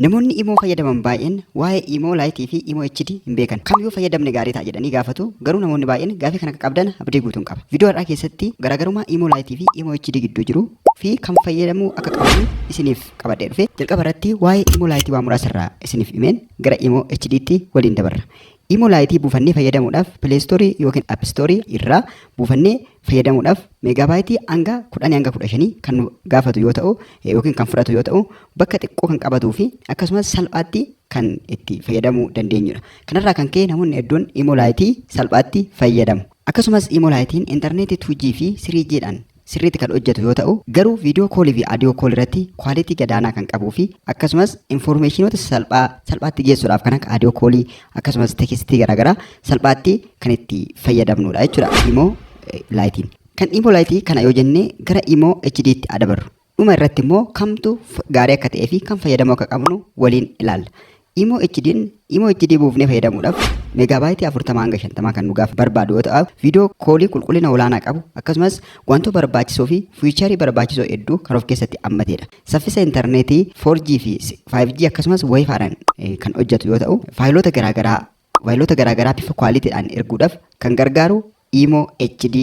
Namoonni imoo fayyadaman baay'een waa'ee imoo laayitii fi imoo HD hin beekan. Kam yoo fayyadamne gaarii ta'a jedhanii gaafatu garuu namoonni baay'een gaafii kana akka qabdan abdii guutuun qaba. Viidiyoo har'aa keessatti garaagarummaa imoo laayitii fi imoo HD gidduu jiru fi kam fayyadamuu akka qabdan isiniif qabadhee dhufe. Jalqaba irratti waa'ee imoo laayitii waa muraasa irraa isiniif himeen gara imoo HD tti waliin dabarra. Imoo laayitii buufannee fayyadamuudhaaf pileestoorii yookiin appistoorii irraa buufannee fayyadamuudhaaf meegaabaayitii hanga 10 hanga 15 kan nu gaafatu yoo ta'u yookiin kan fudhatu yoo ta'u bakka xiqqoo kan qabatuu fi akkasumas salphaatti kan itti fayyadamuu dandeenyudha. Kanarraa kan ka'e namoonni hedduun imolaayitii salphaatti fayyadamu. Akkasumas imolaayitiin intarneetii 2G fi 3G dhaan sirriitti kan hojjetu yoo ta'u garuu viidiyoo koolii fi adiyoo kool irratti kwaalitii gadaanaa kan qabuu fi akkasumas infoormeeshinoota salphaa salphaatti geessuudhaaf kan akka adiyoo koolii akkasumas tekistii garaagaraa salphaatti kan itti fayyadamnudha jechuudha imoo laayitiin. Kan imoo laayitii kana yoo jenne gara imoo HD tti adabarru. Dhuma irratti immoo kamtu gaarii akka ta'ee fi kan fayyadamuu akka qabnu waliin ilaalla. Imoo HD imoo HD buufnee fayyadamuudhaaf meegaabaayitii 40 hanga 50 kan nu gaaf barbaadu yoo ta'u viidiyoo koolii qulqullina olaanaa qabu akkasumas wantoota barbaachisoo fi fiicharii barbaachisoo hedduu kan of keessatti hammatedha. Saffisa intarneetii 4G fi 5G akkasumas wifiidhaan kan hojjetu yoo ta'u faayiloota garaagaraa Mobaayilota garaagaraa bifa kwaaliitiidhaan erguudhaaf kan gargaaru Imo HD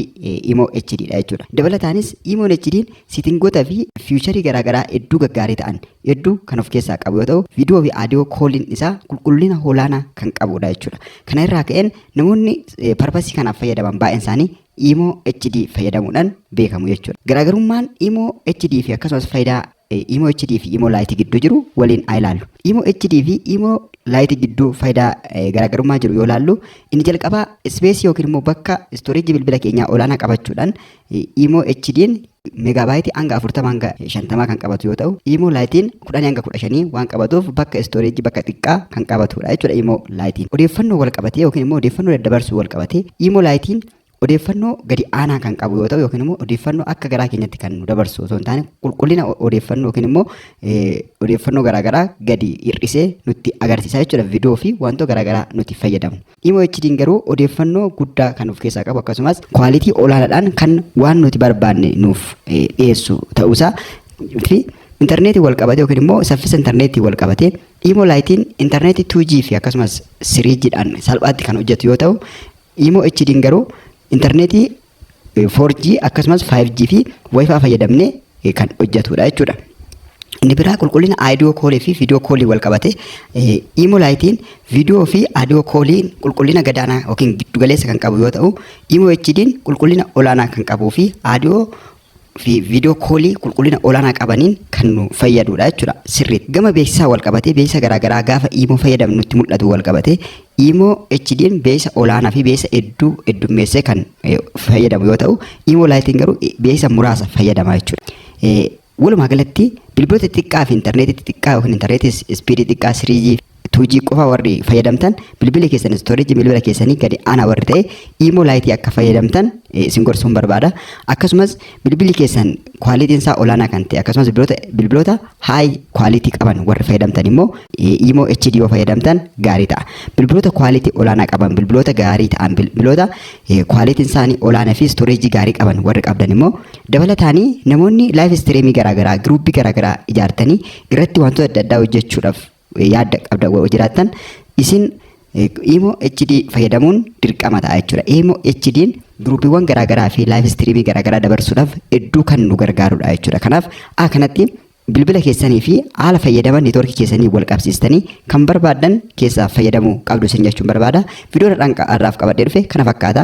Imo HD dha jechuudha. Dabalataanis Imo HD siitingoota fi fiicharii garaagaraa hedduu gaggaarii ta'an hedduu kan of keessaa qabu yoo ta'u viidiyoo fi aadiyoo kooliin isaa qulqullina olaanaa kan qabudha jechuudha. Kana irraa ka'een namoonni parpasii kanaaf fayyadaman baay'een isaanii Imo HD fayyadamuudhaan beekamu jechuudha. Garaagarummaan Imo HD fi akkasumas faayidaa Imo HD fi Imo Lite gidduu jiru waliin haa ilaallu. Imo HD fi Imo Lite gidduu faayidaa garaagarummaa jiru yoo ilaallu inni jalqabaa ispeesii yookiin immoo bakka istoreejii bilbila keenyaa olaanaa qabachuudhaan Imo HD'n megaabaayitii hanga 40 hanga 50 kan qabatu yoo ta'u Imo Lite'n 10 hanga 15 waan qabatuuf bakka istoreejii bakka xiqqaa kan qabatudha jechuudha Imo Lite'n. Odeeffannoo wal qabatee yookiin immoo odeeffannoo daddabarsuu wal qabatee Imo Lite'n odeeffannoo gadi aanaa kan qabu yoo ta'u yookiin immoo odeeffannoo akka garaa keenyatti kan nu dabarsu osoo hin taane qulqullina o- odeeffannoo yookiin immoo eh, odeeffannoo garaagaraa gadi hir'isee nutti agarsiisa jechuudha viidiyoo fi wantoota garaagaraa nuti fayyadamu. Imo HD'n garuu odeeffannoo guddaa kan of keessaa qabu akkasumas kwaalitii olaanaadhaan kan waan nuti barbaanne nuuf eh, dhiyeessu ta'uusaa fi intarneetiin wal qabatee yookiin immoo saffisa intarneetiin wal qabatee imo laayitiin intarneetii 2G fi akkasumas 3G dhaan salphaatti kan hojjetu yoo ta'u Imo HD'n garuu intarneetii 4G akkasumas 5G fi wifi fayyadamne kan hojjetudha jechuudha. Inni biraa qulqullina aayidiyoo koolii fi viidiyoo koolii wal qabate Imo Lite'n viidiyoo fi aadiyoo koolii qulqullina gadaanaa yookiin giddugaleessa kan qabu yoo ta'u Imo HD'n qulqullina olaanaa kan qabuu fi aadiyoo fi viidiyoo koolii qulqullina olaanaa qabaniin kan nu fayyaduudha jechuudha. Sirriitti gama beeksisaa wal qabatee beeksisa garaagaraa gaafa iimoo fayyadamnu nutti mul'atu wal qabatee iimoo HDn beeksisa olaanaa fi beeksisa hedduu heddummeessee kan eh, fayyadamu yoo ta'u iimoo laayitiin garuu eh, beeksisa muraasa fayyadama jechuudha. Eh, Walumaa galatti bilbiloota xixiqqaa fi intarneetii xixiqqaa yookiin intarneetii ispiidii xiqqaa 3G 2G qofa warri fayyadamtan bilbili keessan istoorejii bilbila keessanii gadi aanaa warri ta'e iimoo laayitii akka fayyadamtan isin gorsuun barbaada. Akkasumas bilbili keessan kwaalitiin isaa olaanaa kan ta'e akkasumas bilbiloota bilbiloota haay kwaalitii qaban warri fayyadamtan immoo iimoo HD yoo fayyadamtan gaarii ta'a. Bilbiloota kwaalitii olaanaa qaban bilbiloota gaarii ta'an bilbiloota kwaalitiin isaanii olaanaa fi istoorejii gaarii qaban warri qabdan immoo dabalataanii namoonni laayiv istireemii garaagaraa giruuppii garaagaraa ijaartanii irratti wantoota adda addaa hojjechuudhaaf yaadda qabda wa- jiraattan isin eh, imo HD fayyadamuun dirqama ta'a jechuudha. Imo HD'n giruupiiwwan garaagaraa fi laayiv istiriimii garaagaraa dabarsuudhaaf hedduu kan nu gargaarudha jechuudha. Kanaaf a kanatti bilbila keessanii fi haala fayyadama neetwoorkii keessanii wal qabsiistanii kan barbaaddan keessaa fayyadamuu qabdu isin jechuun barbaada. Viidiyoon har'aan qa- har'aaf qabadhee dhufe kana fakkaata.